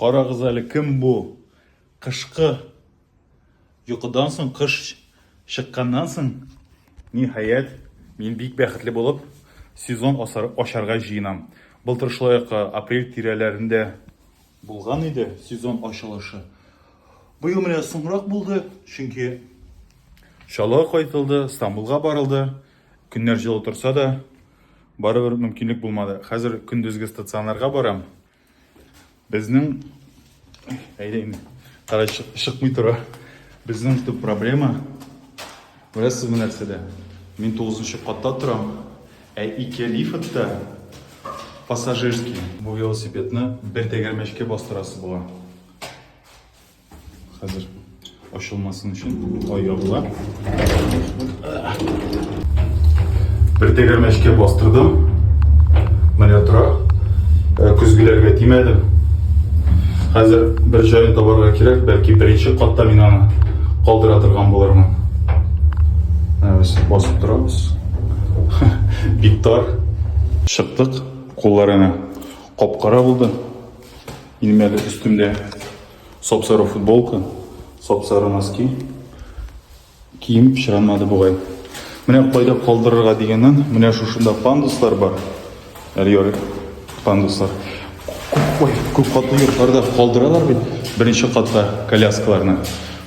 Карагыз әле, кем бу? Кышкы йокыдан соң, кыш чыкканнан соң, ниһаять, мин бик бәхетле булып сезон ачарга җыенам. Былтыр шулай ук апрель тирәләрендә булган иде сезон ачылышы. Быел менә соңрак булды, чөнки Чаллыга кайтылды, Стамбулга барылды. Көннәр җылы торса да, барыбер мөмкинлек булмады. Хәзер көндезге стационарга барам. Безнең әйдә инде. Кара чыкмый тора. Безнең төп проблема беләсезме нәрсәдә? Мин 9 катта торам, ә ике лифтта пассажирский. Бу велосипедны бер тәгәрмәчкә бастырасы була. Хәзер ачылмасын өчен ай ябыла. Бер тәгәрмәчкә бастырдым. Менә тора. Э, көзгеләргә тимәдем. Хәзер бер җайын табарга кирәк, бәлки беренче катта мин аны калдыра торган булырмын. Ә без басып торабыз. Биктар. Чыктык. Кулларына капкара булды. Минем әле өстемдә сап-сары футболка, сап-сары носки. Кием пычранмады бугай. Менә кайда калдырырга дигәннән, менә шушында пандуслар бар. Әле ярый пандуслар. Ой, күп катлы йортларда калдыралар бит беренче катта коляскаларны.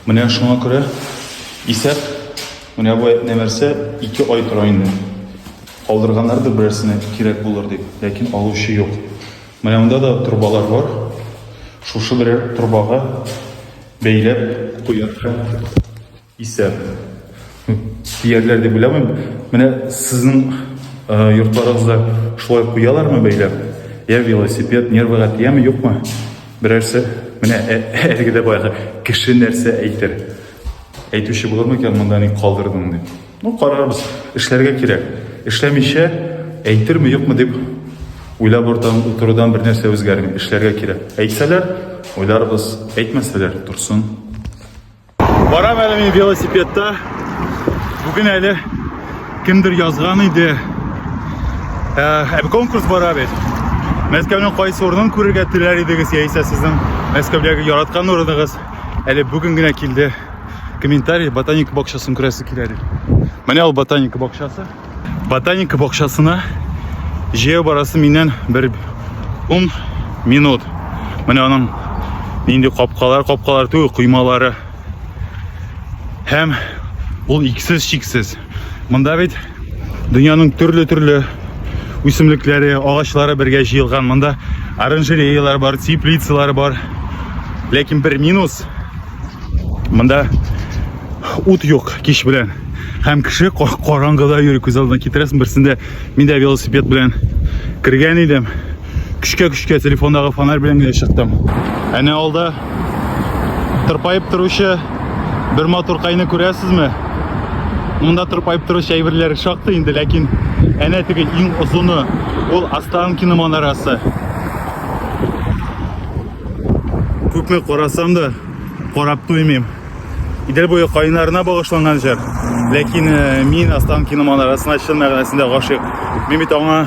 Менә шуңа күрә исәп, менә бу нәрсә ике ай тора инде. Калдырганнардыр берәрсенә кирәк булыр дип, ләкин алучы юк. Менә монда да торбалар бар. Шушы берәр торбага бәйләп куярга исәп. Киярләр дип уйламыйм. Менә сезнең йортларыгызда шулай куялармы бәйләп? Я велосипед нервыга тияме, юкмы? Берәрсе менә әлеге дә баягы кеше нәрсә әйтер. Әйтүче булырмы икән монда ник калдырдың дип. Ну, карарбыз, эшләргә кирәк. Эшләмичә, әйтерме, юкмы дип уйлап утырудан бер нәрсә үзгәрми. Эшләргә кирәк. Әйтсәләр, уйларбыз, әйтмәсәләр, торсын. Барам әле мин велосипедта. Бүген әле кемдер язган иде. Ә конкурс бара бит. Мәскәүнең кайсы урынын күрергә теләр идегез, яисә сезнең Мәскәүдәге яраткан урыныгыз әле бүген генә килде. комментарий ботаника бакчасын күрәсе килә дип менә ул ботаника бакчасы ботаника бакчасына җәяү барасы миннән бер ун минут менә аның нинди капкалар капкалар түгел коймалары һәм ул иксез чиксез Монда бит дөньяның төрле-төрле үсемлекләре, агачлары бергә җыелган. Монда оранжереялар бар, теплицалар бар. Ләкин бер минус. Монда ут юк кич белән. Һәм кеше караңгыда йөри, күз алдына китерәсең. Берсендә мин дә велосипед белән кергән идем. көчкә көчкә телефондагы фонарь белән генә чыктым әнә алда тырпаеп торучы бер матуркайны күрәсезме монда тырпаеп торучы әйберләр шактый инде ләкин әнә теге иң озыны ул останкино манарасы күпме карасам да карап туймыйм идел буе каеннарына багышланган җыр ләкин э, мин останкино манарасына чын мәгънәсендә гашыйк мин бит аңа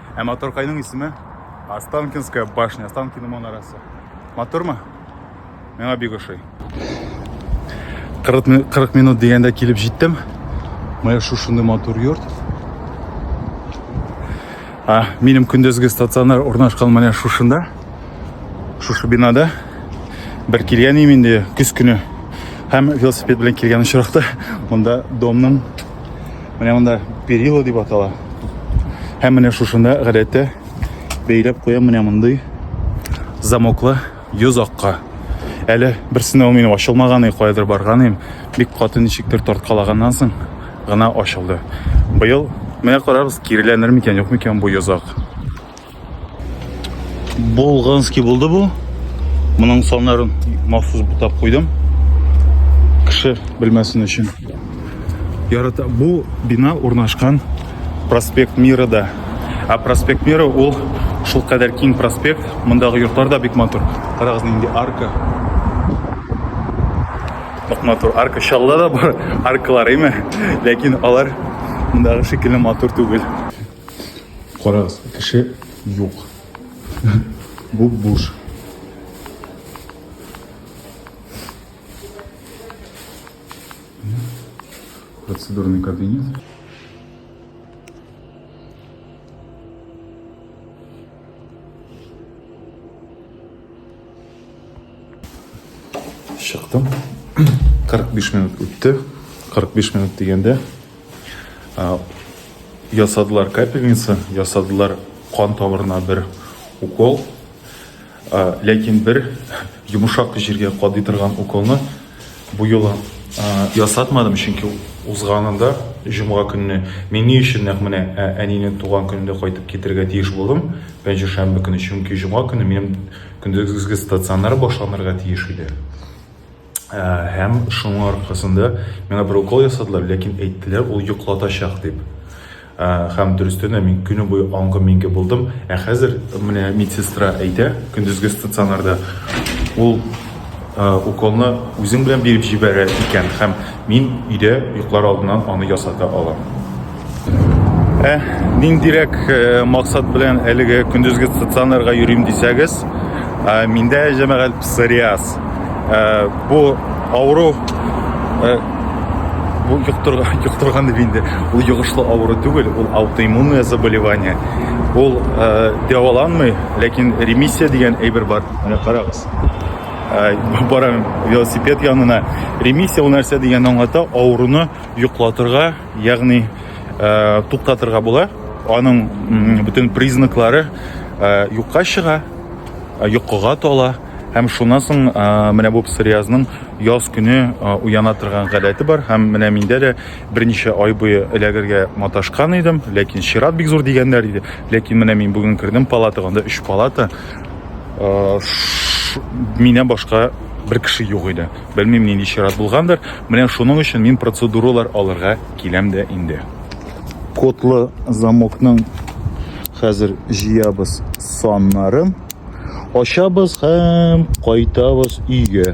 Ә мотор кайның исеме? Останкинская башня, Останкино монарасы. Мотормы? Миңа бик ошый. 40, 40 минут дигәндә килеп җиттем. Моя шушынды матур йорт. А, минем көндезге стационар урнашкан менә шушында. Шушы бинада бер килгән инде көз көне һәм велосипед белән килгән очракта монда домның Менә монда перила дип атала. Һәм менә шушында гадәттә бәйләп куя менә мондый замоклы йозакка. Әле берсенә мин ачылмаганы кайдыр барганым, бик каты ничектер тарткалаганнан соң гына ачылды. Быел менә карабыз, киреләнер микән, юк микән бу йозак. Болганский булды бу. Моның саннарын махсус бутап куйдым. Кеше белмәсен өчен. Ярата бу бина урнашкан проспект Мирада. Ә проспект Мира ул шул кадәр киң проспект. Мондагы йортлар да бик матур. Карагыз нинди арка. Бик матур арка шалла да бар аркалар име. Ләкин алар мондагы шикелле матур түгел. Карагыз, кеше юк. Бу буш. Процедурный кабинет. Чыктым. 45 минут үтте. 45 минут дигәндә ясадылар капельница, ясадылар кан тамырына бер укол. Ләкин бер йомшак җиргә кадый торган уколны Бу юлы ясатмадым, чөнки узганында җомга көнне мин ни өчен нәкъ менә әнинең туган көнендә кайтып китергә тиеш булдым, пәнҗешәмбе көне, чөнки җомга көне минем көндезге стационар башланырга тиеш иде. Һәм шуның аркасында миңа бер укол ясадылар, ләкин әйттеләр, ул йоклатачак дип. Ә, һәм дөрестән дә мин көне буе аңгы миңге булдым. Ә хәзер менә медсестра әйтә, көндезге стационарда ул ә, уколны үзең белән биреп җибәрә икән һәм мин өйдә йоклар алдыннан аны ясата алам. Ә ниндирәк ә, максат белән әлеге көндезге стационарга йөрим дисәгез, ә, миндә җәмәгать псориаз. Ә, бу авыру ә, бу йоктырган йоктырган дип инде ул йогышлы авыру түгел ул аутоиммунное заболевание ул ә, дәваланмый ләкин ремиссия дигән әйбер бар менә карагыз ә, барам велосипед янына ремиссия ул нәрсә дигән аңлата авыруны йоклатырга ягъни ә, туктатырга була аның бөтен признаклары ә, юкка чыга йокыга тола Һәм шуннан соң менә бу псориазның яз көне уяна торган гадәте бар. Һәм менә миндә дә берничә ай буе эләгергә маташкан идем, ләкин чират бик зур дигәннәр иде. Ләкин менә мин бүген кердем палатага, анда 3 палата. Миннән башка бер кеше юк иде. Белмим, нинди чират булгандыр. Менә шуның өчен мин процедуралар алырга киләм дә инде. Кодлы замокның хәзер җыябыз саннарын. Ачабыз һәм кайтабыз өйгә.